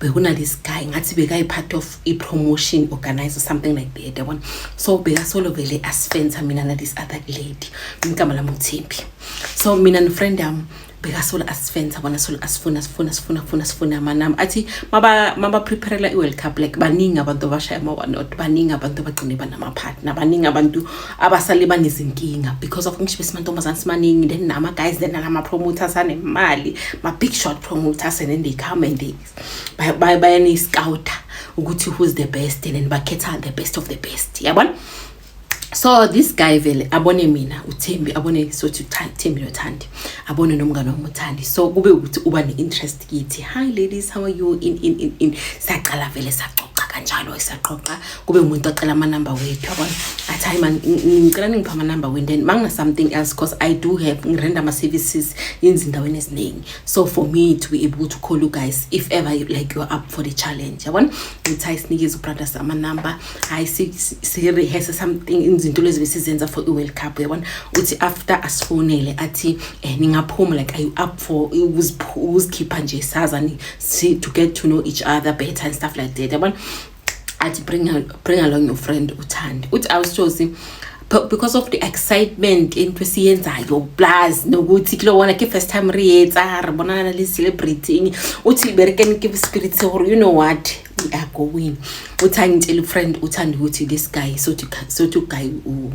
bekuna this guy ngathi bekayi part of i promotion organizer something like that yabona so bekasolo vele asifensa mina na this other lady igama lami uThembi so mina no friend yami bekasolo asifensa bona solo asifuna sifuna sifuna sifuna sifuna manami athi maba maba preparela i world cup like baningi abantu abashaya ama one not baningi abantu abagcine banama partner baningi abantu abasale banezinkinga because of ngisho besimantombazane simaningi then nama guys then nama promoters anemali ma big shot promoters and then they come and they bayane scouter ukuthi who's the best and then bakhetha the best of the best yabona so this guy vele abone mina uthembi abone sothi uthembi nothandi abone nomngane wami uthandi so kube ukuthi uba ne-interest kithi hi ladies how are you in in in in saqala vele saxoxa kanjalo esaqoqa kube umuntu ocela ama number wethu yabona athi hayi man ngicela ningipha ama number wenu then mangina something else because i do have ngirenda ama services inzindaweni eziningi so for me to be able to call you guys if ever you, like you're up for the challenge yabona ngithi hayi sinikeze ubrothers ama number hayi si rehearse something izinto lezi besizenza for i world cup yabona uthi after asifonele athi eh, ningaphuma like are you up for ukuzikhipha nje sazani to get to know each other better and stuff like that yabona athi bring, bring along your friend uthandi uthi awusithosi because of the excitement into esiyenzayo plus nokuthi kulo wona ke first time re etsa re bonana le celebrating uthi liberekeni ke spirit se gore you know what we are going uthi angitshela ufriend uthanda ukuthi this guy so to so to guy u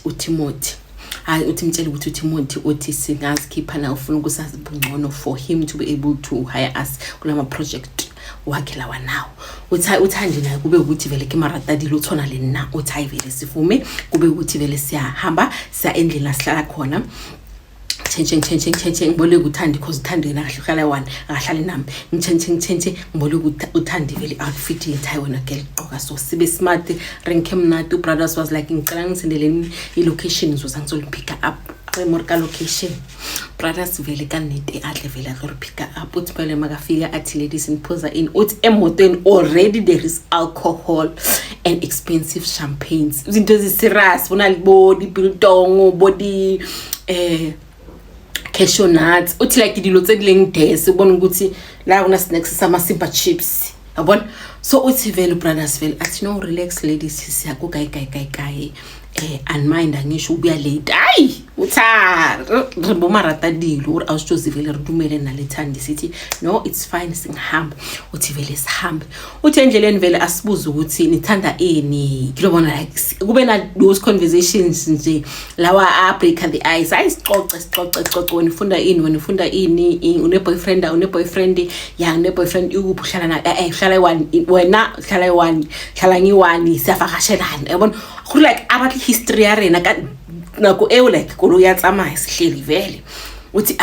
uTimothy hayi uthi mtshele ukuthi uTimothy uthi singazikhipha na ufuna ukusazi bungcono for him to be able to hire us kulama project wakhe lawa nawo uthi uthandi naye kube ukuthi vele ke maratadile uthona le na uthi hayi vele sifume kube ukuthi vele siyahamba siya endlini la sihlala khona ngitshentshe ngitshentshe ngitshentshe ngibole kuthandi cause uthandi yena kahle uhlala one akahlali nami ngitshentshe ngitshentshe ngibole uthandi vele outfit yethu hayi wena girl gqoka so sibe smart renke mnati ubrothers was like ngicela ngisendeleni i-location ngizoza ngizoliphicka up more ka location brothers vele kanete adle vele azoriphicka up uthi phele makafika athi ladies niphuza in uthi emotweni already there is alcohol and expensive champagnes izinto eziserious bona libodi biltong body eh cashew nuts uthi like dilo tse dileng des ubona ukuthi la kuna snacks sama simba chips yabona so uthi vele brothers vele athi no relax ladies siya ku kai kai kai kai eh unmind angisho ubuya late hayi utha re boma rata dilo uri awusitshozi vele re dumele nalethandi sithi no it's fine singihamba uthi vele sihambe uthi endleleni vele asibuze ukuthi nithanda ini kilobona like kube na those conversations nje lawa a break the ice hayi sixoxe sixoxe sixoxe wena ufunda ini wena ufunda ini une boyfriend une boyfriend ya une boyfriend ukuphi uhlala na eh, eh uhlala one wena uhlala one uhlala ngiwani siyavakashelana yabona go like a batle history ya rena ka nako eo like kolo ya tsamaya sehleli vele uthi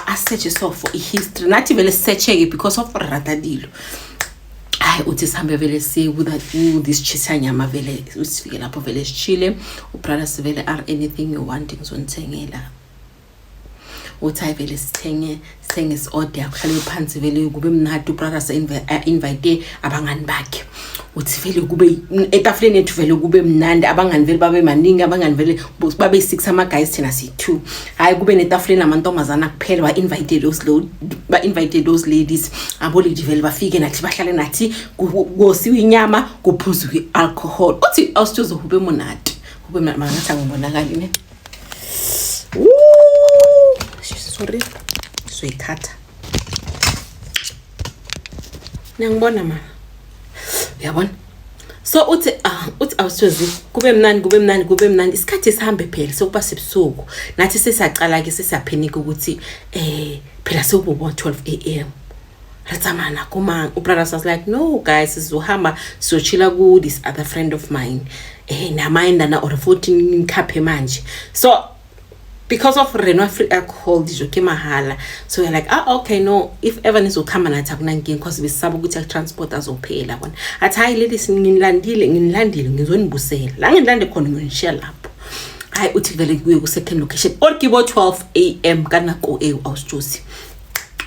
a searche so for history nathi vele searcheke because of re rata dilo hayi uthi sihambe vele siye kuthis chisanyama vele sifike lapho vele sishile ubrother sivele are anything you want ngizonithengela uthi hayi vele sithenge sithenge si-order kuhlale phansi vele kube mnadi ubrothers invite abangani bakhe uthi vele kube etafuleni ethu vele kube mnandi abangani vele babe maningi abangani vele babe six ama-guys thina siyi-two hhayi kube netafuleni amantombazana kuphela ba-invite those ba-invite those ladies aboledi vele bafike nathi bahlale nathi kosiwe inyama kuphuzwe i-alcohol uthi awusithozohube monati hube mangathi angibonakali ne sorry soyithatha niyangibona mama uyabona so uthi ah, uthi awusozi kube mnandi kube mnandi kube mnandi isikhathi sihambe phela sokuba sebusuku nathi sesiyacala-ke sesiyaphenika ukuthi um phela sekubo-12 a m re tsamaya nako mang o brothers was like no guys sizohamba sizochila ku this other friend of mine eh namayendana or 14 khaphe manje so because of reno free alcohol dijo ke mahala so we're like ah okay no if ever nizokhamba nathi akunankinga because besisaba ukuthi akutransport azophela kona athi hayi leli nginilandile nginilandile ngizonibusela la nginilande khona ngiyonishiya lapho hayi uthi vele kuye ku-second location or kibo 12 a m kanako ewu awusijosi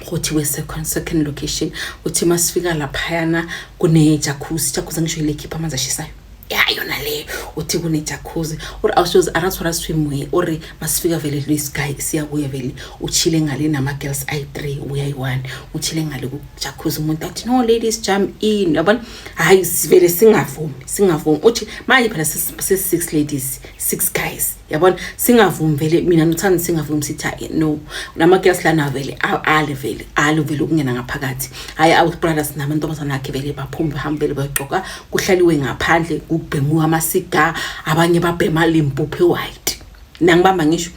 ukuthi we second second location uthi masifika laphayana kune jacuzzi jacuzzi ngisho ilekhipha amanzi ashisayo ya yona leyo uthi kune jacuzzi or awushozi arathora swimwe or masifika vele lo sky siya kuye vele uchile ngale nama girls i 3 uya i1 uchile ngale ku jacuzzi umuntu athi no ladies jump in yabona hayi sivele singavumi singavumi uthi manje phela sisi 6 ladies 6 guys yabona singavumi vele mina nothanda singavumi sithi hayi no namakilasi lana vele ale vele ale vele ukungena ngaphakathi hhayi our brothers namantombazana akhe vele baphume bahambe vele bayogqoka kuhlaliwe ngaphandle kubhemiwe amasiga abanye babhema limpuphe white nangibamba ngisho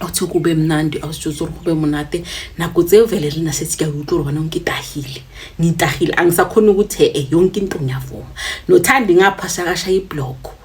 awuthe kube mnandi awusitshuza uri kube munate nako tse vele le na setse ke a utlwa gore bana o nkitagile ngitagile a ngisakhone ukuthi e-e yonke into ngiyavuma nothandi ngaphasakasha iblock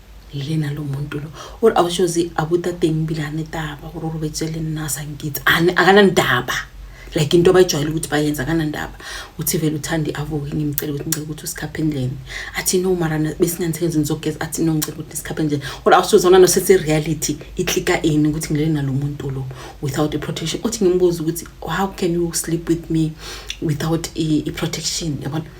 lena lo muntu lo ore a o shozi a buta teng bile a ne taba gore o robetse le nna a sa nkitse a ka na ndaba like into abayijwayele ukuthi bayenza ka na ndaba uthi vele uthandi avuke ngimcele ukuthi ngicela ukuthi usikhaphe endleni athi no mara besinganithenzi ngizogeza athi no ngicela ukuthi sikhaphe endleni ore a o shozi ona no setse reality i tlika ini ukuthi ngilele nalo muntu lo without a protection uthi ngimbuza ukuthi how can you sleep with me without a protection yabona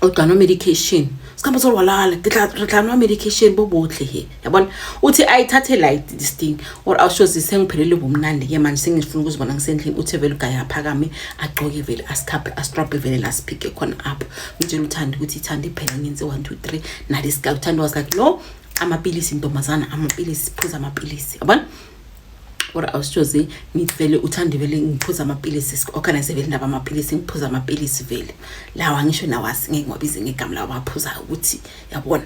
o tla nwa medication ska motse gore walala re tla nwa medication bo botlhe he ya bona uthi ayithathe light this thing or awushozi sengiphelele ubumnandi ke manje sengifuna ukuzibona ngisendlini uthi vele ugaye aphakame agcoke vele asikhaphe astrobhe vele lasiphike khona up ngitshela uthanda ukuthi ithanda iphela ngenze one two three nalesika uthanda was like no amapilisi ntombazana amapilisi phuza amapilisi yabona kodwa awusitshozi ngithi vele uthande vele ngiphuza amapilisi si-organize vele indaba amapilisi ngiphuza amapilisi vele lawa ngisho nawasi ngeke ngiwabize ngegama lawo baphuzayo ukuthi yabona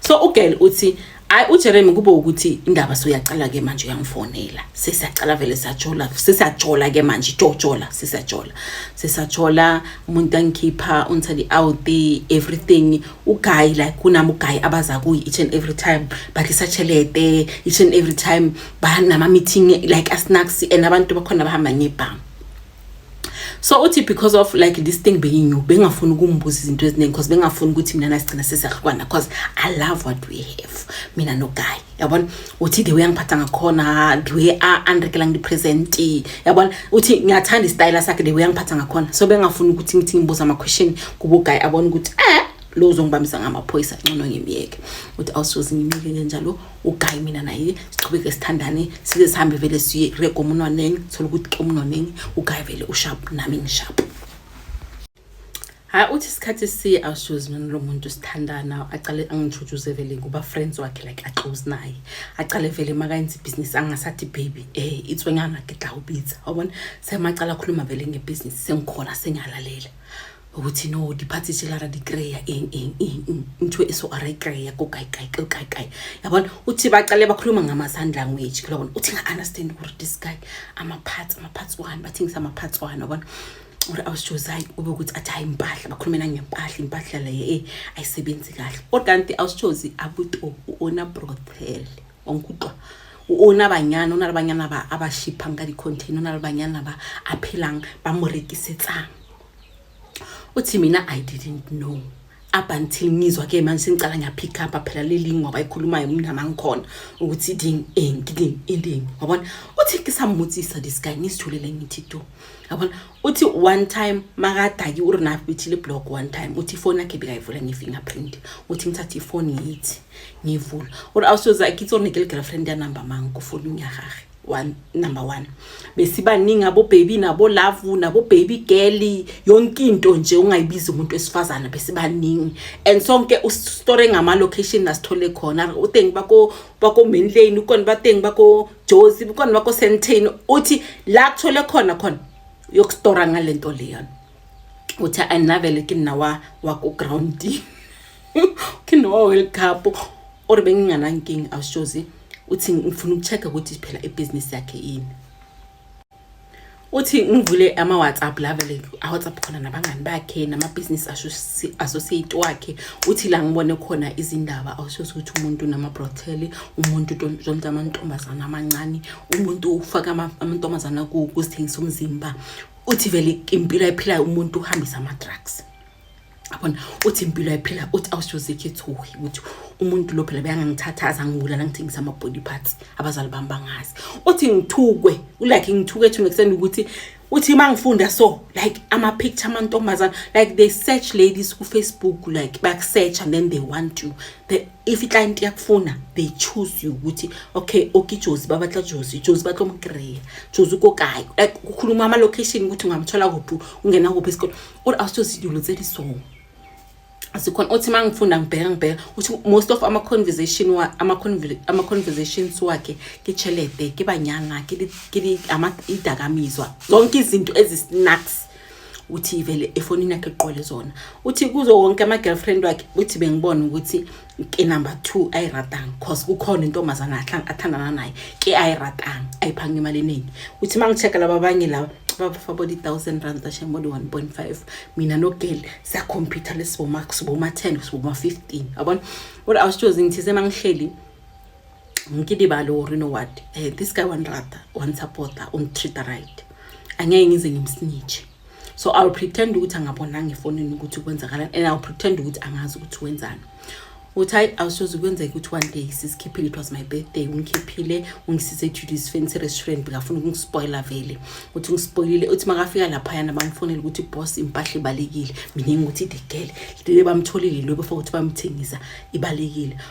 so ugirl uthi hayi ujeremy kube ukuthi indaba soyacala-ke manje uyangifonela sesiyacala vele siyajola sesiyajola-ke manje jojola sesiyajola sesiyajola umuntu angikhipha ungithanda i-out everything uguy like kunami uguy abaza kuyi each and every time badlisa chelete each and every time banama meeting like asnacks and abantu bakhona bahamba ngebhamu so uthi because of like this thing being new bengafuni ukumbuza izinto eziningi because bengafuni ukuthi mina nasigcina sesahlukana because i love what we have mina noguy yabona uthi the way angiphatha ngakhona the way andrekela ngipresent yabona uthi ngiyathanda istyle sakhe the way angiphatha ngakhona so bengafuni ukuthi ngithi ngibuza ama question kubo guy abona ukuthi eh lo uzongibambisa ngamaphoyisa ncono ngimyeke uthi awusoze ngimyeke kanjalo uguy mina naye siqhubeke sithandane size sihambe vele siye rego umunwaneni thola ukuthi ke umunwaneni uguy vele ushap nami ngishap hayi uthi isikhathi si awusuzi mina lo muntu sithandana acale angitshutshuze vele kuba friends wakhe like aclose naye acale vele makayenza ibhizinisi angasathi baby eh itswenyana gidla ubitha wabona semacala akhuluma vele ngebhizinisi sengikhona sengalalela ukuthi no diphathi tshelara dikreya eng eng eng ntho e so ara ikreya ko kae kae ko kae kae yabona uthi baqale bakhuluma ngama-sign language kulabona uthi nga-understand ukuthi this guy ama-parts ama-parts one bathengisa ama-parts one yabona or awusijozai kube ukuthi athi hayi impahla bakhulumela ngempahla impahla leyo e ayisebenzi kahle kodwa kanti awusijozi abuto u-ona brothel onkutwa u-ona banyana ona le banyana ba a ba shiphang ka di-contain ona le banyana ba a phelang ba mo rekisetsang o thi mina i didn't know up until ngizwa ke manje sengicala ngiya pick up phela leli ngoba ikhulumayo mina mangikhona ukuthi ding ending ending yabona uthi ngisamuthisa this guy ngisithulele ngithi do yabona uthi one time makadaki urina bithi le block one time uthi phone yakhe bikayivula nge fingerprint uthi ngithathe ifone yithi ngivula uri awusoza ikitsone ke girlfriend ya number mangu kufuna unyahage one number one besibaningi abobaby nabolavu nabobaby girl yonke into nje ungayibiza umuntu wesifazane besibaningi and sonke usitore ngama-location nasithole khona utengi bako bako main lane ukona batengi bako josi ukona bako sentane uthi la kuthole khona khona yokustora ngale nto leyona uthi andinavele ke nina wakugroundini ke nina wa-world cup or benginganankinga awushozi uthi ngifuna ukucheck-a ukuthi phela ibhizinisi yakhe yini uthi ngivule ama-whatsapp la vele awhatsapp khona nabangani bakhe namabhizinisi associate wakhe uthi la ngibone khona izindaba awushozi ukuthi umuntu namabrotheli umuntu zonke amantombazana amancane umuntu ufaka amantombazana kuzithengisa umzimba uthi vele impilo ayiphilayo umuntu uhambisa ama-drugs abona uthi impilo ayiphila uthi awushozekhe thuhi ukuthi umuntu lo phela beyangangithatha azangibulala ngithengisa ama-body parts abazali bami bangazi uthi ngithukwe ulike ngithuke ethuna ekuseni ukuthi uthi uma ngifunda so like ama-picture amantombazana like they search ladies kufacebook like bakusearch and then they want you they, if iclient yakufuna they choose you ukuthi okay okay jozi babatla jozi jozi batlo mkreya jozi ukokayo like kukhuluma ama location ukuthi ungamthola kuphi ungena kuphi isikole or awusozi dilo tse so sikhona othi mangifunda ngibheka ngibheka uthi most of ama conversation wa ama ama conversations wakhe ke chelete ke banyanga ke ke ama idakamizwa zonke izinto ezi snacks uthi ivele efonini yakhe eqole zona uthi kuzo wonke ama-girlfriend wakhe uthi bengibona ukuthi ke number two ayiratanga cause kukhona intombazana athandana naye ke ayiratanga ayiphanga imali eningi uthi uma ngi-check-a laba abanye laba babafa body thousand rand ashe body one point five mina nogeli siyakhompyutha lesiboma siboma ten siboma fifteen yabona kodwa awusitshozi ngithize uma ngihleli ngikilibale or you know what eh, this guy wanirata wanisupporta ungitreata right angeke ngize ngimsnitshe so iwill pretend ukuthi angabonanga efonini ukuthi kwenzakalani and iwill pretend ukuthi angazi ukuthi wenzani uthi hayi awusoze kwenzeka ukuthi one day sisikhiphile it was my birthday ungikhiphile ungisise ejudice fancy restaurant bekafuna ukungispoyila vele uthi ungispoyilile uthi makafika laphayana bamfonele ukuthi boss impahla ibalekile mina ngithi the girl le bamtholile lobe for ukuthi bamthengisa ibalekile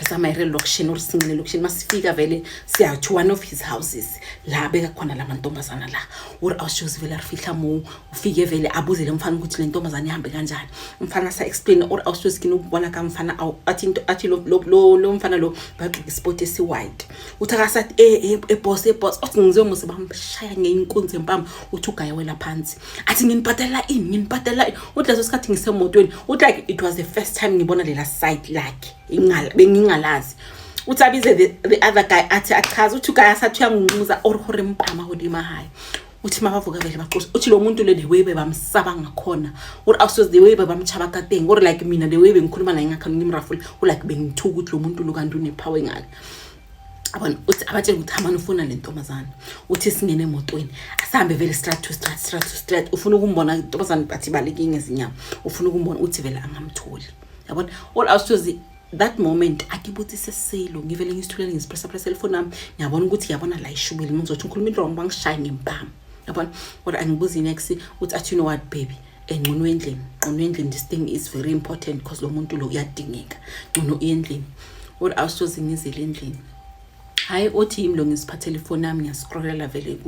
asama ire location or sincine location masifika vele siya to one of his houses la beka khona la mantombazana la or awushozi vele arifihla mo ufike vele abuzele umfana ukuthi le ntombazana ihambe kanjani umfana sa explain or awushozi kini ukubona ka mfana athi into athi lo lo lo mfana lo bagqoke sport esi white uthi akasathi e e boss e boss othi ngizomuze bamshaya ngeinkunzi empama uthi ugaya wela phansi athi nginibhadalela ini nginibhadalela ini uthi leso sikhathi ngisemotweni uthi like it was the first time ngibona lela site lakhe bengingalazi uthi abize the, the other guy athi achaze uthi uguy asathi uyangunquza or hore mpama hodima hayi uthi mabavuka vele baxosha uthi lo muntu le the way bebamsaba ngakhona or awusoze the way bebamtshaba kateng or like mina the way bengikhuluma naye ngakhona ngimrafula ulike bengithuka ukuthi lo muntu lo kanti unepower engaka abona uthi abatshele ukuthi hamani ufuna le ntombazane uthi singene emotweni asihambe vele strat to strat strat to strat ufuna ukumbona intombazane bathi baleke ngezinyama ufuna ukumbona uthi vele angamtholi yabona all out to the that moment akibuthi sesilo ngivele ngisithulele ngizipressa pressa elifoni nami ngiyabona ukuthi yabona la ishubile ngizothi ngikhuluma into wrong bangishaye ngempama yabona kodwa angibuzi next uthi athi you know what baby engcono endlini ngcono endlini this thing is very important because lo muntu lo uyadingeka ngcono endlini or awusoze ngizele endlini hayi othi yimi lo ngisiphathele ifoni yami ngiyascrollela vele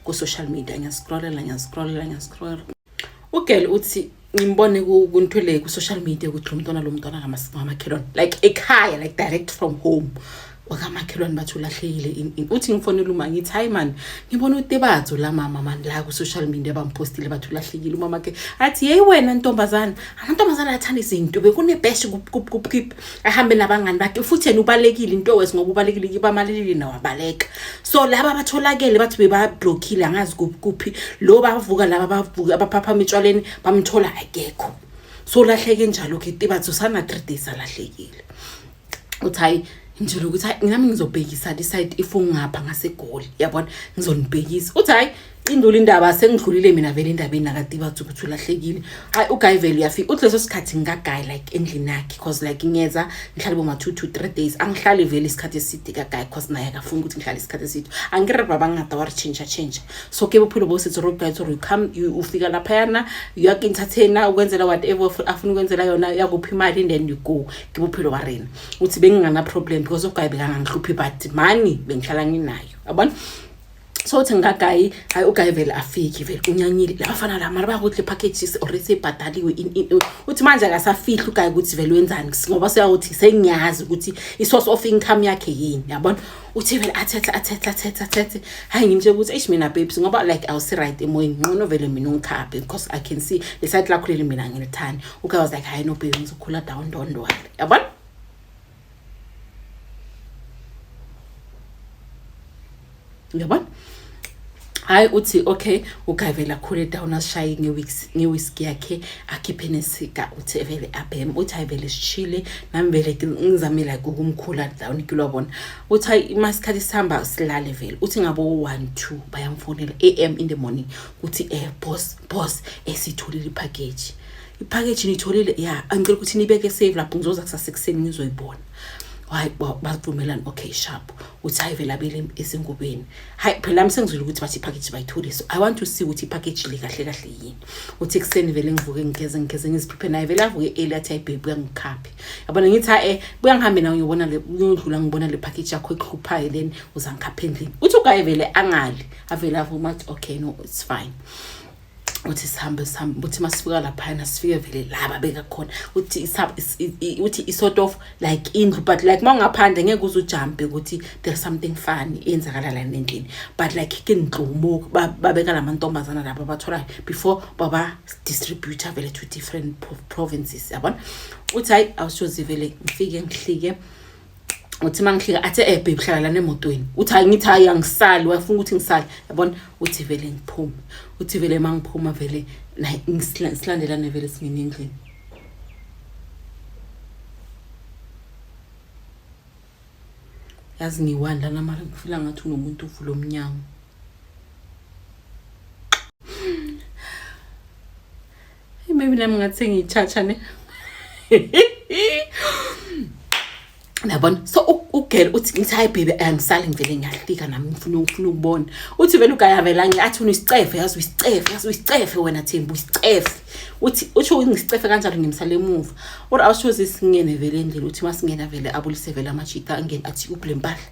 ku-social media ngiyascrollela ngiyascrollela ngiyascrollela ugel uthi ngimbone kunthwele ku-social media ukuthi lo mntwana lo mntwana ngamakhelwane like ekhaya like direct from home wakamakhelwane bathi ulahlekile in in uthi ngifonela uma ngithi hayi mani ngibona utebadzo la mama mani la ku-social media bamphostile bathi ulahlekile umama ke athi yeyi wena ntombazana amantombazana athanda izinto bekunebheshi kupkip ahambe nabangani bakhe futhi yena ubalekile into wes ngoba ubalekile kibamalelile nawabaleka so laba batholakele bathi bebablokhile angazi kuphi lo bavuka laba bavuka abaphaphama etshwaleni bamthola akekho so lahleke njalo ke tebadzo sana-three days alahlekile uthi hayi ngitshela ukuthi hayi nami ngizobhekisa le side if ungapha ngasegoli yabona ngizonibhekisa uthi hayi indula indaba sengidlulile mina vele endabeni nakatibathi ukuthi ulahlekile hayi uguy vele uyafika uthi leso sikhathi ngikaguy like endlini yakhe because like ngiyeza ngihlale boma-two to three days angihlali vele isikhathi eside kaguy because naye akafuni ukuthi ngihlale isikhathi eside angire baba ngingada waritshintsha tshintsha so ke bophilo bosithi road guy or come ufika laphayana uyakintathena ukwenzela whatever afuna ukwenzela yona yakuphi imali and then you go ke bophelo ba rena uthi bengingana problem because ugayi bekangangihluphi but mani bengihlala nginayo yabona so uthi ngikagayi hayi ugayi vele afiki vele unyanyile labafana la mara bakuthi le package already sebhadaliwe uthi manje akasafihli ugayi ukuthi vele wenzani ngoba seyawuthi sengiyazi ukuthi i-source of income yakhe yini yabona uthi vele athethe athethe athethe athethe hayi ngimtshela ukuthi eish mina babes ngoba like awusi-right emoyeni nqono vele mina ungikhaphe because i can see lesayithi lakho leli mina ngilithandi uguy was like hayi no baby ngizokhula down don't worry yabona yabona hayi uthi okay uguy vele akhule down asishaye ngewiski yakhe akhiphe nesika uthi vele abheme uthi hayi vele sishile nami vele ngizame like ukumkhula down kilwabona uthi hayi uma isikhathi sihamba silale vele uthi ngabo one two bayamfonela a m in the morning kuthi eh boss boss esitholile ipackage ipackage nitholile ya angicela ukuthi nibeke save lapho ngizoza kusasa ekuseni ngizoyibona hayi bavumelani okay sharp uthi hayi vele abele esengubeni hayi phela nami sengizwile ukuthi bathi ipackage bayithole so i want to see ukuthi ipackage le kahle kahle yini uthi ekuseni vele ngivuke ngigeze ngigeze ngiziphiphe naye vele avuke early athi hayi babe uyangikhaphi yabona ngithi ha eh buya ngihambe nawe ngiyobona le uyodlula ngibona le package yakho ekhuphayo then uzangikhapha endlini uthi ugaye vele angali avele avuma athi okay no it's fine uthi sihambe sihambe uthi masifika laphana sifike vele laba bekakhona uthi uthi isort of like indlu but like mawungaphandle ngeke uze ujumpe ukuthi there's something funny eyenzakala la nendlini but like ke ngigxumo babeka lamantombazana laba batholayo before baba distributor vele to different provinces yabona uthi hayi awushozi vele ngifike ngihlike uthi mangihlika athe eh babe hlala lana emotweni uthi hayi ngithi hayi angisali wafuna ukuthi ngisali yabona uthi vele ngiphume uthi vele mangiphuma vele naye silandelane vele singene endlini yazi ngiwani lana mara ngifila ngathi unomuntu uvula omnyango Hey, maybe nami ngathi ngiyitshatsha ne. Nabona so ugirl uthi ngithi hayi baby angisali ngivele ngiyahlika nami ngifuna ngifuna ukubona. Uthi vele ugaya vela ngi athi unisicefe yazi uyisicefe yazi uyisicefe wena Thembu uyisicefe. Uthi uthi ungisicefe kanjalo ngimsale emuva. Or awusho sisingene vele endlini uthi masingena vele abulise vele amajita angene athi ublempahla.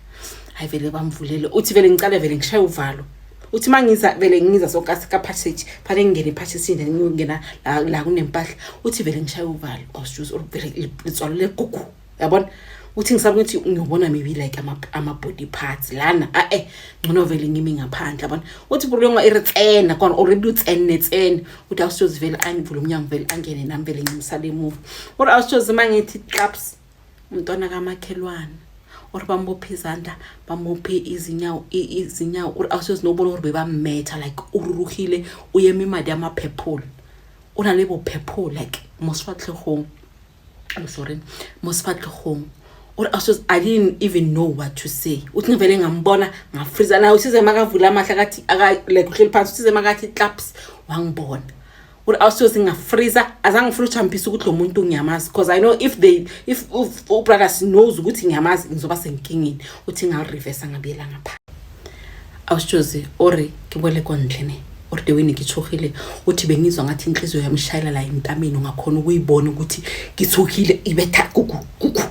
Hayi vele bamvulele uthi vele ngicale vele ngishaye uvalo. uthi uma ngiza vele ngiza so ka-passage phane ngingene ephashisini then ngingena la kunempahla uthi vele ngishaya uvalo ausjuze or vele litswalo legugu yabona uthi ngisaba ukuthi ngiyobona maybe like ama-body parts lana a-e ngcono vele ngimi ngaphandle yabona uthi bulonga iritsena kona already utsenetsene uthi ausjuze vele angivule umnyango vele angene nami vele ngimsale emuva or ausjuze uma ngithi claps umntwana kamakhelwane or bambophe izandla bambophe izinyawo izinyawo or awusezinobolo or bebammetha like ururuhile uyema imali yama-purple o na le bo-purple like mo sefatlhegong i'm sorry mo sefatlhegong or awusez i didn't even know what to say uthi ngivele ngambona ngafriza naye usize makavula amahla akathi like uhleli phansi usize makathi claps wangibona ukuthi awusiyo singafreeza azange ngifuna uchampisa ukuthi lo muntu ngiyamazi because i know if they if, if ubrothers knows ukuthi ngiyamazi ngizoba senkingeni uthi ngalirevesa ngabuyela ngapha awusitshozi ore ngibole kondlene or the way ngithuhile uthi bengizwa ngathi inhliziyo yami ishayela la emtameni ungakhona ukuyibona ukuthi ngithuhile ibetha kuku kuku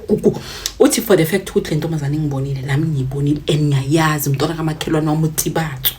kuku uthi for the fact ukuthi le ntombazane ngibonile nami ngiyibonile and ngiyayazi umntwana kamakhelwane wami utibathu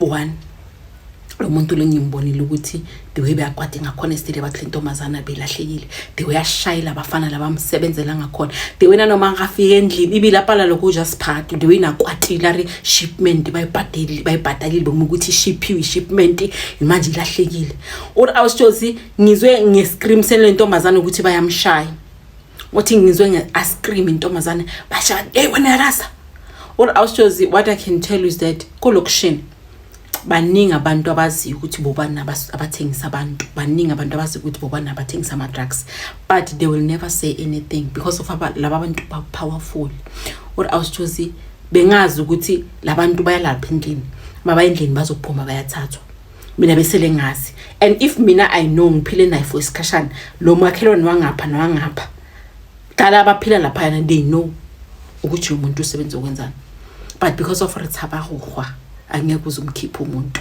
one lo muntu lo ngimbonile ukuthi the way beyakwade ngakhona esitile bathi le ntombazana belahlekile the way ashayela abafana labamsebenzela ngakhona the way nanoma ngafika endlini ibilapala lokho ujasphathi the way nakwatile ari shipment bayibhadeli bayibhadalile boma ukuthi ishiphiwe ishipment manje ilahlekile or awusjozi ngizwe ngescream sele ntombazana ukuthi bayamshaya wathi ngizwe nge-ice cream intombazane bashaka hey wena yarasa all aushozi what i can tell you is that kolokushini baningi abantu abaziyo ukuthi bobani abathengisa abantu baningi abantu abaziyo ukuthi bobani abathengisa ama-drugs but they will never say anything because of laba bantu ba-powerful or aushozi bengazi ukuthi labantu bayalapha endlini mabayendlini bazophuma bayathathwa mina besele ngazi and if mina i know ngiphile naye for isikhashana lo makhelwane wangapha nowangapha dala abaphila laphayana they know ukuthi umuntu usebenza okwenzani but because of rithaba gohwa angeke uze umkhiphe umuntu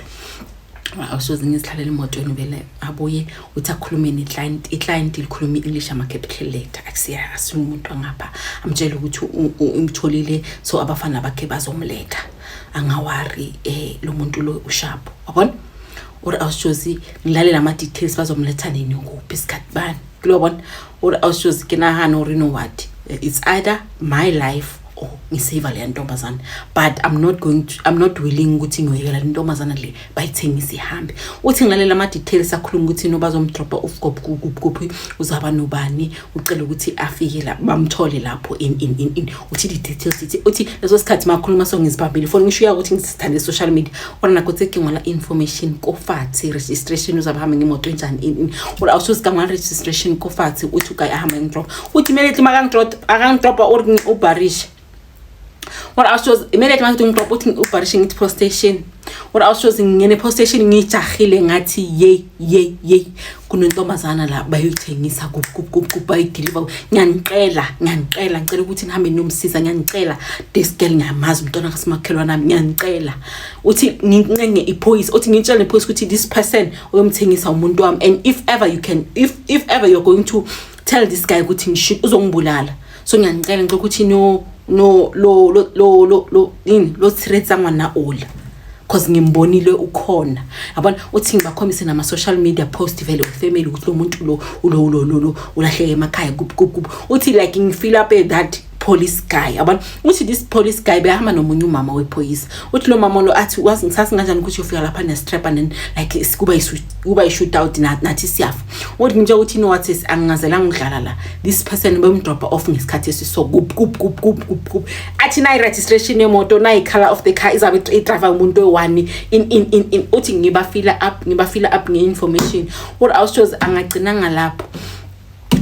awusoze ngizihlalele emotweni vele abuye uthi akhulume neclient iclient likhuluma i-english ama-capital letter akusiyasini umuntu angapha amtshele ukuthi umtholile so abafana bakhe bazomletha angawari eh lo muntu lo ushapo wabona or awushozi ngilalela ama details bazomletha nini kuphi isikhathi bani kulobona or awushozi ke nahana or no what it's either my life or ngisave le ntombazana but i'm not going to, i'm not willing ukuthi ngiyoyekela le ntombazana le bayithengisa ihambe uthi ngilalela ama-details akhuluma ukuthi no bazomdrobha ufgobkuphi uzaba nobani ucela ukuthi afike la bamthole lapho uthi di-details ithi uthi leso sikhathi makhuluma so ngizibambile foni ngisho uya ukuthi ngisithande social media ona nakho tsekingwala information kofathi registration uzaba hambe ngemoto enjani ini or awusuzikamwala registration kofathi uthi ugayi ahambe ngidrop uthi immediately makangidrop akangidropa or ubharishe what else was kumele ke manje umqoqo uthi ubharishe ngithi post station what else was ngene post station ngijahile ngathi yey yey yey kunentombazana la bayoyithengisa bayideliver ngiyanicela ngiyanicela ngicela ukuthi nihambe ninomsiza ngiyanicela this girl ngiyamazi umntwana kasimakhelwa nami ngiyanicela uthi ngincenge iphoyisa uthi ngitshele iphoyisa ukuthi this person uyomthengisa umuntu wami and if ever you can if if ever you're going to tell this guy ukuthi ngisho uzongibulala so ngiyanicela ngicela ukuthi no no lo lo lo lo lo yini lo threatsa ngwana ola cause ngimbonile ukhona yabona uthi ngibakhombise nama social media post vele ufamily ukuthi lo muntu lo ulo lo lo lo ulahleke emakhaya kup kup kup uthi like ngifeel up at that police guy yabona uthi this police guy behamba nomunye umama wephoyisa uthi lo mama lo athi wazi ngisasi kanjani ukuthi ufika lapha ne strap and like kuba isu kuba i shoot out nathi siyafa Uthi ngitshela ukuthi you know what sis angingazelanga ukudlala la. This person ubemdropha off ngesikhathi esiso kup kup kup kup kup kup. Athi nayi registration yemoto nayi color of the car izabe idrive umuntu oyi-1 in in in in uthi ngiba fill up ngiba fill up nge information. What I was chose angagcina ngalapho.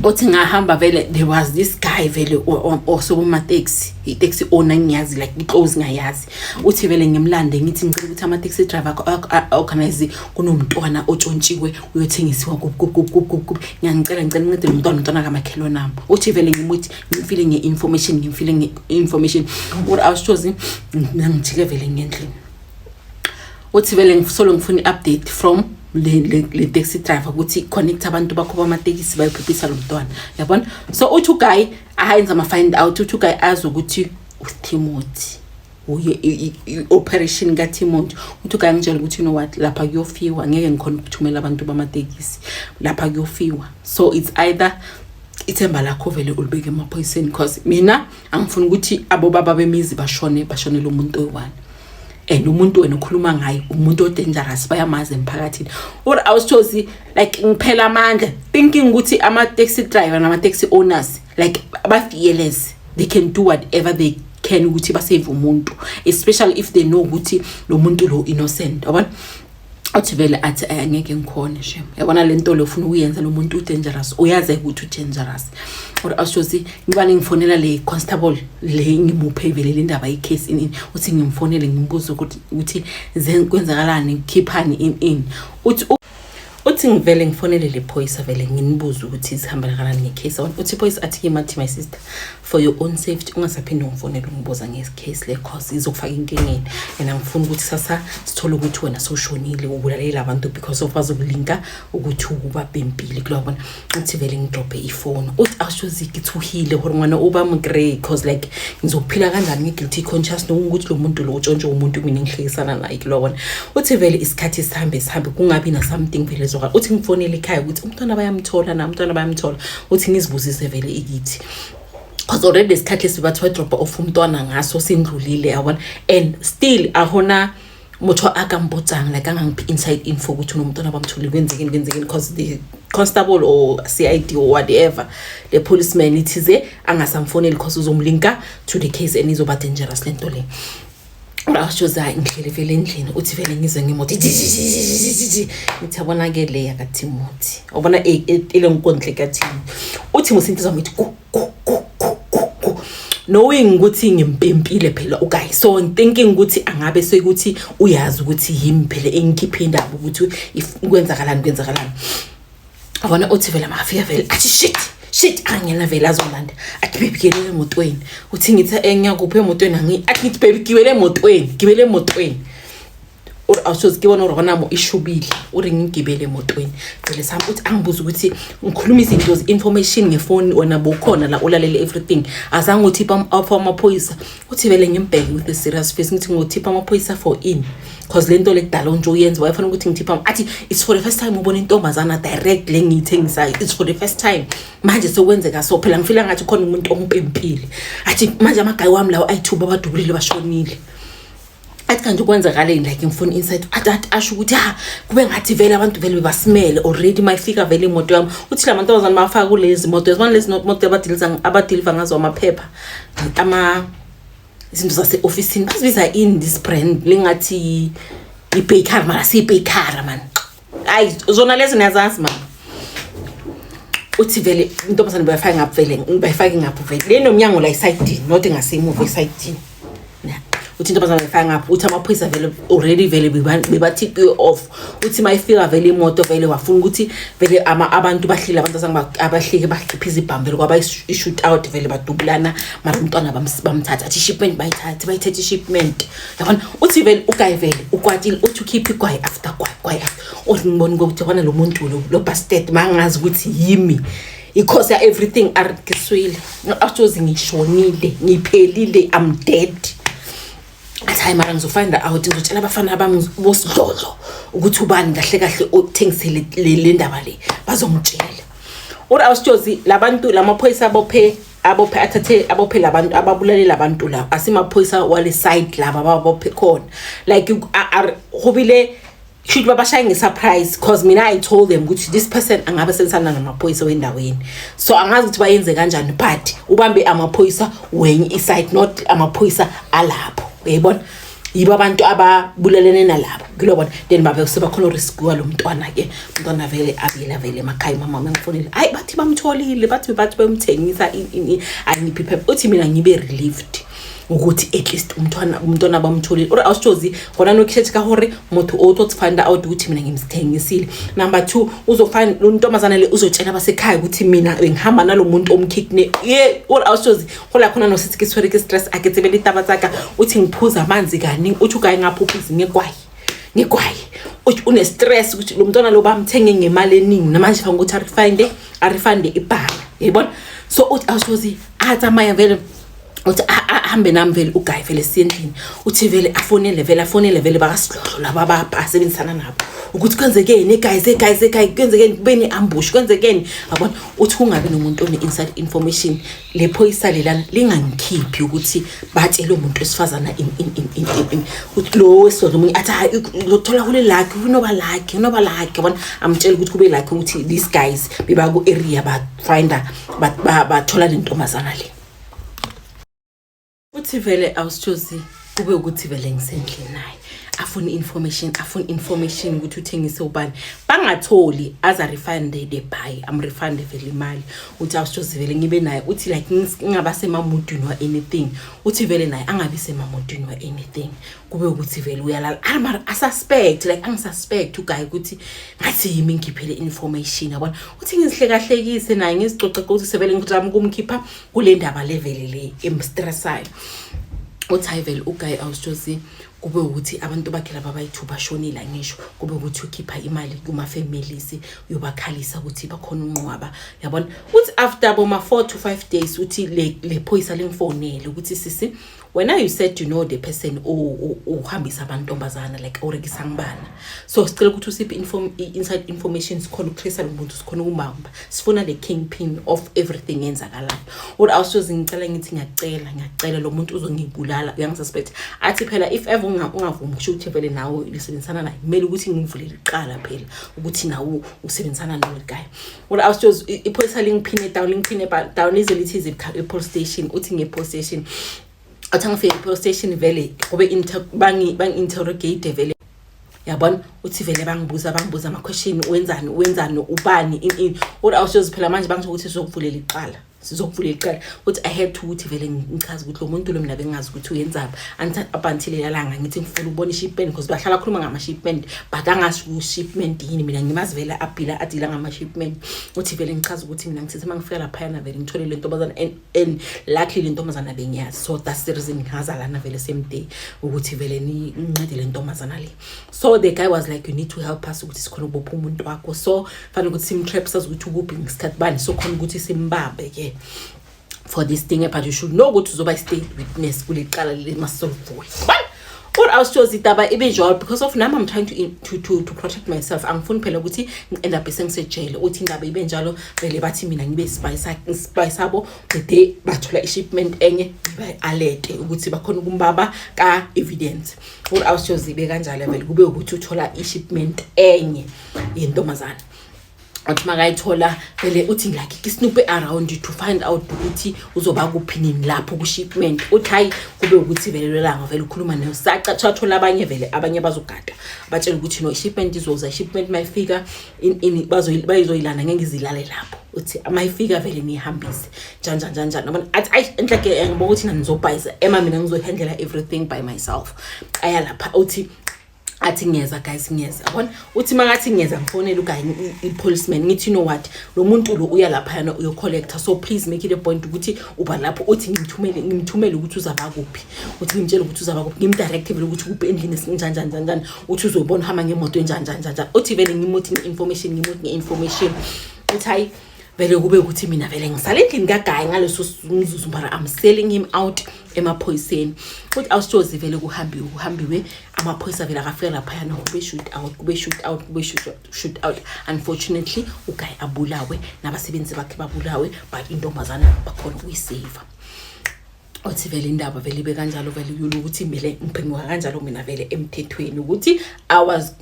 othi ngahamba vele there was this guy vele osokuma taxi i-taxi owner ngiyazi like i-close ngayazi uthi vele ngimlande ngithi ngicela ukuthi ama-taxi driver organize kunomntwana otshontshiwe uyothengisiwa kukukukukuku ngiyangicela ngicela incedele umntwana umntwana kamakhelwane ami uthi vele ngimuthi ngimfile nge-information ngimfile nge-information or awusithozi nangijike vele ngendlini uthi vele ngisolo ngifuna i-update from le taxi driver ukuthi connect abantu bakho bamatekisi bayophephisa lo mntwana yabona so uthi uguy ayenza ama-find out uthi uguy azi ukuthi uthimothy uye i-operation kathimont uthi ukangitshela ukuthi you know what lapha kuyofiwa ngeke ngikhona ukuthumela abantu bamatekisi lapha kuyofiwa so it's either ithemba lakho vele ulibeke emaphoyiseni because mina angifuni ukuthi abobaba bemizi bashone bashonele umuntu oyi-one and umuntu wena ukhuluma ngaye umuntu odangerous bayamazi emphakathini or awusithozi like ngiphela amandla thinking ukuthi ama-taxi driver nama-taxi owners like ba fearless they can do whatever they can ukuthi ba save umuntu especially if they know ukuthi lo muntu lo innocent yabona athi vele athi eh, angeke ngikhone shem yabona le nto le ufuna ukuyenza lo muntu udangerous uyazi ukuthi udangerous or ashothi ngibani ngifonela le constable le ngimuphe ivele le ndaba icase in in uthi ngimfonele ngimbuze ukuthi ukuthi kwenzakalani ngikhiphani in in uthi uthi ngivele ngifonele le phoyisa vele nginibuze ukuthi sihambela kanani ngecase one uthi iphoyisa athi kimi athi my sister for your own safety ungasaphinde ungifonele ungibuza ngecase le cause izokufaka inkingeni and angifuni ukuthi sasa sithole ukuthi wena sowushonile ubulalela abantu because of bazokulinka ukuthi ubabhempile kulabona athi vele ngidobhe ifoni uthi awushoziki thuhile hore ngwana uba mgrey cause like ngizophila kanjani ngi-guilty conscious nokuthi lo muntu lo utshontshe umuntu mina engihlekisana naye kulona uthi vele isikhathi sihambe sihambe kungabi na-something vele zokala uthi ngifonele ekhaya ukuthi umntwana bayamthola na umntwana bayamthola uthi ngizibuzise vele ikithi cause already isikhathi esibathi wadrobha off umntwana ngaso sindlulile yabona and still ahona motho a ka mpotsang like a ngangiphe inside info ukuthi unomntwana bamthole kwenzekeni kwenzekeni because the constable or c i d or whatever le policeman ithize angasamfoneli because uzomlinka to the case and izoba dangerous le nto le ashoza ngihlele vele endlini uthi vele ngizwe ngemoto ngithi yabona-ke le yakathimothi obona ile nkondle kathimo uthi musinto zami ithi knowing ukuthi ngimpempile phela uguy so thinking ukuthi angabe sekuthi uyazi ukuthi yimi phela engikhiphe indaba ukuthi kwenzakalani kwenzakalani abona uthi vele mafika vele athi shit shit angena vele azolanda athi baby gibele emotweni uthi ngithi engiyakuphi emotweni angi athi ngithi baby gibele emotweni gibele emotweni or awusoze kibona or wanamo ishubile uri ngigibele emotweni cele sami uthi angibuza ukuthi ngikhuluma izinto information ngefoni wena bokhona la ulalele everything azange uthi for amaphoyisa uthi vele ngimbheke with a serious face ngithi ngothipha amaphoyisa for in cause lento lekudala onje uyenza wayefanele ukuthi ngithipha athi it's for the first time ubona intombazana direct le ngiyithengisayo it's for the first time manje sekwenzeka so phela ngifila ngathi khona umuntu ompempile athi manje amagayi wami lawo ayithuba abadubulile bashonile athi kanti kwenzakaleni like ngifuna insight athi athi asho ukuthi ha kube ngathi vele abantu vele bebasimele already mayifika vele imoto yami uthi la mantombazane mafaka kulezi moto yabona lezi moto abadiliza abadiliva ngazo amaphepha ama izinto zase office bazibiza in this brand lengathi ibaker mara siyibaker man ayi zona lezi niyazazi mama uthi vele intombazane bayifake ngapho vele bayifake ngapho vele le nomnyango la isayidini not ngasemuva isayidini uthi intombazane bayifake ngapho uthi amaphoyisa vele already vele bebathipiwe off uthi mayifika vele imoto vele wafuna ukuthi vele abantu bahlile abantu abahlike bakhiphe izibhamu vele kwaba i-shoot out vele badubulana mara umntwana bamthatha athi ishipment bayithathe bayithathe ishipment yabona uthi vele ugayi vele ukwatile uthi ukhiphe igwayi after gwayi gwayi after uthi ngibona ukuthi yabona lo muntu lo lo bastard mangazi ukuthi yimi ikhosi ya everything arikiswile ashozi ngishonile ngiphelile i'm dead athi hayi mara ngizofind out ngizotshela abafana abami bosidlodlo ukuthi ubani kahle kahle othengisele le ndaba le bazongitshela uri awusitshozi labantu lamaphoyisa abophe abophe athathe abophe labantu ababulale labantu la asimaphoyisa wale side laba babophe khona like go bile should baba shaye ngesurprise cause mina i told them ukuthi this person angabe sensana namaphoyisa wendaweni so angazi ukuthi bayenze kanjani but ubambe amaphoyisa wenye iside not amaphoyisa alapho uyayibona yibo abantu ababulalene nalabo ngilobona then babe sebakhona uriskuwa lo mntwana ke umntwana vele abile avele emakhaya umama wami angifonile hayi bathi bamtholile bathi bathi bemthengisa angiphi phepha uthi mina ngibe relieved ukuthi at least umntwana umntwana bamtholile or awusithozi khona nokhethe ka hore motho o tlo find out ukuthi mina ngimthengisile number 2 uzofind lo ntombazana le uzotshela abasekhaya ukuthi mina bengihamba nalomuntu omkidne ye or awusithozi go la khona no setse ke tshwere ke stress a ke tsebe ditaba tsaka o tsheng phuza manzi kani uthi ukaye ngaphuphuzi ngekwayi ngekwayi uthi une stress ukuthi lo mntwana lo bamthenge ngemali eningi namanje fanele ukuthi arifinde arifinde ibhala yayibona so uthi awusozi atsamaya vele uthi ahambe nami vele ugayi vele siyendlini uthi vele afonele vele afonele vele bakasidlodlo laba abapha asebenzisana nabo ukuthi kwenzekeni eguys eguys eguys kwenzekeni kube ne-ambush kwenzekeni yabona uthi kungabi nomuntu one-inside information le phoyisa lelana lingangikhiphi ukuthi batshele umuntu wesifazana lo wesidoda omunye athi hayi ngothola kule lakhe unoba lakhe unoba lakhe bona amtshela ukuthi kube lakhe ukuthi these guys beba ku-area bafinder bathola le ntombazana le uthi vele awusitshozi kube ukuthi vele ngisendlini naye afuna information afuna information ukuthi uthengise ubani bangatholi as a refund the buy am refund vele imali uthi awusitshozi vele ngibe naye uthi like ngingaba semamudwini wa anything uthi vele naye angabi semamudwini wa anything kube ukuthi vele uyalala amara asuspect like angisuspect uguy ukuthi ngathi yimi ngiphe le information yabona uthi ngizihlekahlekise naye ngizicoce ukuthi sevele ngizama ukumkhipha kule ndaba levele le emstressayo uthi hayi vele uguy awusjosi kube ukuthi abantu bakhe laba bayithu bashonile ngisho kube ukuthi ukhipha imali kuma-families uyobakhalisa ukuthi bakhona unqwaba yabona uthi after boma-four to five days uthi le, le phoyisa lingifonele ukuthi sisi wena you said you know the person uhambisa abantombazana like orekisa ngibana so sicela ukuthi usiphe inform inside information sikhona ukutrace lo muntu sikhona ukumamba sifuna the kingpin of everything yenzakalayo what i was just ngicela ngithi ngiyacela ngiyacela lo muntu uzongibulala uyangisuspect athi phela if ever ungavumi ukusho ukuthi vele nawe lisebenzisana naye kumele ukuthi ngivulele iqala phela ukuthi nawe usebenzisana nalo guy Well, I was just iphoyisa lingiphine down lingiphine down lize lithi ize police station uthi nge police station athi angifike police station vele kube bangi bangi interrogate vele yabona uthi vele bangibuza bangibuza ama question wenzani wenzani ubani in in or awushozi phela manje bangisho ukuthi sokuvulela iqala sizokuvula icala ukuthi i had to ukuthi vele ngichaze ukuthi lo muntu lo mina bengazi ukuthi uyenzaphi up until elalanga ngithi ngifuna ukubona i-shipment because bahlala khuluma ngama-shipment but angasho ku-shipment yini mina ngimazi vele abhila adila ngama-shipment uthi vele ngichaze ukuthi mina ngithithi uma ngifika laphayana vele ngithole le ntombazana and luckily le ntombazana bengiyazi so that's the reason ngihaza lana vele same day ukuthi vele ngincede le ntombazana le so the guy was like you need to help us ukuthi sikhona ukubopha umuntu wakho so fanele ukuthi simtrap sazi ukuthi ukuphi ngesikhathi bani so khona ukuthi simbambe ke for this thing but you should know ukuthi uzoba i-state witness kule cala leli masolivule or awusitshoza idaba ibe njalo because of nami i'm trying to, to, to, to protect myself angifuni phela ukuthi ngi-end up sengisejele uthi inqaba ibe njalo vele bathi mina ngibe sibayi sabo the day bathola i-shipment enye ngiba-alete ukuthi bakhona ukumbaba ka-evidence or awusitshoza ibe kanjalo vele kube ukuthi uthola i-shipment enye yentombazane athi makayithola vele uthi ngilakike isnoop around to find out ukuthi uzoba kuphi nini lapho kushipment uthi hayi kube ukuthi vele lelanga vele ukhuluma nayo saca thathola abanye vele abanye bazogada batshela ukuthi no shipment izoza shipment mayifika in in bazoyilana ngeke izilale lapho uthi mayifika vele niyihambise njanja njanja nabona athi ayi enhle ke eh, ngibo ukuthi nanizobhayiza ema mina ngizohandlela everything by myself aya lapha uthi athi ngiyeza guys ngiyeza yabona uthi makathi ngiyeza ngifonele ukanye i-policeman ngithi you know what lo muntu lo uya laphayana uyocollector so please make it a point ukuthi uba lapho uthi ngimthumele ngimthumele ukuthi uzaba kuphi uthi ngimtshele ukuthi uzaba kuphi ngimdirecte vele ukuthi kuphi endlini esinjanjani njanjani uthi uzobona uhamba ngemoto enjanjani njanjani uthi vele ngimuthi nge-information ngimuthi nge-information uthi hayi vele kube ukuthi mina vele ngisale endlini kagayi ngaleso mzuzu mara i'm selling him out emaphoyiseni futhi awusitshozi vele kuhambiwe kuhambiwe amaphoyisa vele akafika laphayana kube shoot out kube shoot out kube shoot out unfortunately ugayi abulawe nabasebenzi bakhe babulawe but intombazana bakhona ukuyiseva othi vele indaba vele ibe kanjalo vele yona ukuthi mele ngiphenguka kanjalo mina vele emthethweni ukuthi i was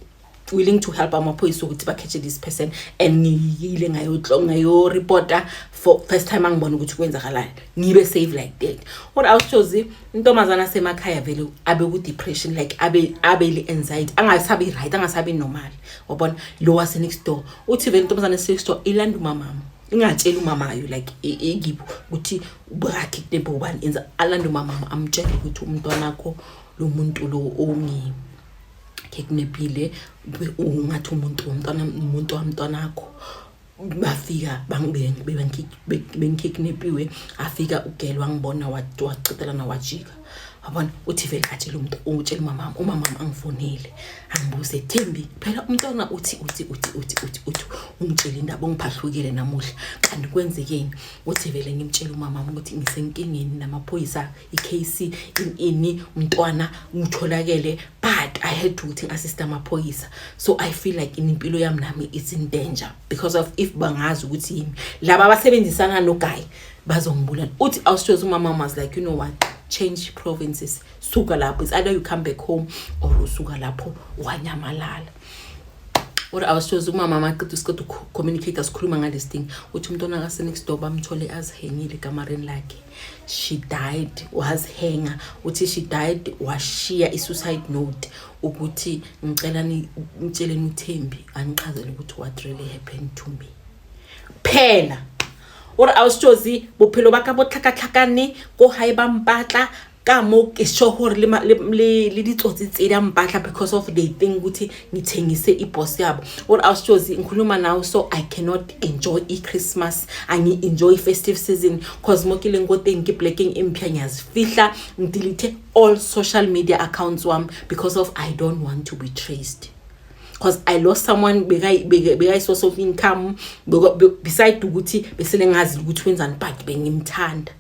willing to help amaphoyisa ukuthi bakhethe this person and ngiyile ngayoreporta for first time angibona ukuthi kwenzakalani ngibe save like that what else jozi intombazana asemakhaya vele abe ku-depression like abe abele anxiety angasabi right angasabi normal wabona lo wasenext door uthi vele intombazana esenext door ilanda umamama ingatsheli umamayo like engipho ukuthi ubrakhe kunembe ubani enza alanda umamama amtshele ukuthi umntwana akho lo muntu lo ongimi keknephile ungathi umuntu womntwana umuntu wamntwana akho bafika bengikeknepiwe afika ugele wangibona wacetelana wajika wabona uthi vele atshele umuntu utshela umamam umamam angifonile angibuze thembi phela umntwana uthi uthi uthi uthi uthi uthi ungitshele indaba ungiphahlukile namuhla kanti kwenzekeni uthi vele ngimtshele umamam ukuthi ngisenkingeni namaphoyisa icase in ini umntwana ngitholakele but i had to ukuthi assist amaphoyisa so i feel like impilo yami nami is in danger because of if bangazi ukuthi yimi laba abasebenzisana no guy bazongibulala uthi awushoza umama was like you know what change provinces suka lapho it's either you come back home or usuka lapho wanyamalala or i was chose umama amaqeda usiqeda ucommunicate asikhuluma ngalesi thing uthi umntwana kasenext door bamthole azihengile ekamareni lakhe she died wazihenga uthi she died washiya i-suicide note ukuthi ngicela ngitsheleni uthembi angichazele ukuthi what really happened to me phela ore a o se tsozi bophelo ba ka bo tlhakatlhakane ko gae ba mpatla ka mo ke sure gore le ditsotsi tse di a mpatla because of they think ukuthi ngithengise ibos yabo or i was just ngikhuluma nawo so i cannot enjoy i-christmas angi-enjoy i-festive season cause mo ke leng ko teng ke blacking empia ngiyazifihla ngidelete all social media accounts wam because of i don't want to be traced because i lost someone bekayi-source of income beside ukuthi besele ngazi ukuthi wenzani but bengimthanda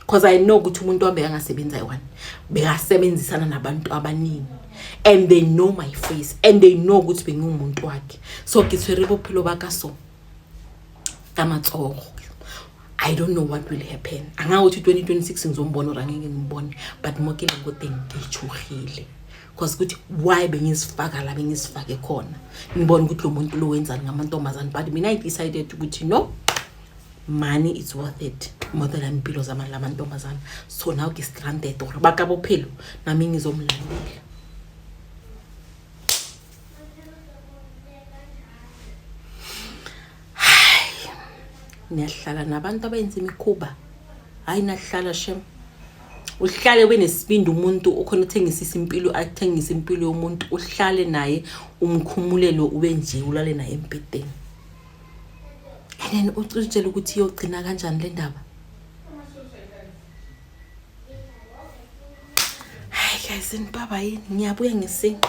because i know ukuthi umuntu wami bekangasebenzi ayi-one bekasebenzisana nabantu abaningi and they know my face and they know ukuthi bengiwumuntu wakhe so ke tshwere bophelo ba ka so ka matsogo i don't know what will happen angakuthi 2026 ngizombona or angeke ngimbone but mo ke leng ko teng ke tshogile because ukuthi why bengizifaka la bengizifake khona ngibona ukuthi lo muntu lo wenzani ngamantombazane but mina i decided ukuthi no money it's worth it more than impilo zamani la mantombazana so now ke stranded or bakabophelo nami ngizomlandela niyahlala nabantu abayenza imikhuba hayi nahlala shem uhlale ube nesibindi umuntu ukhona uthengisisa impilo athengisa impilo yomuntu uhlale naye umkhumulelo ube nje ulale naye embhedeni and then ucitshele ukuthi iyogcina kanjani le ndaba hayi guys nibaba yini ngiyabuya ngesinto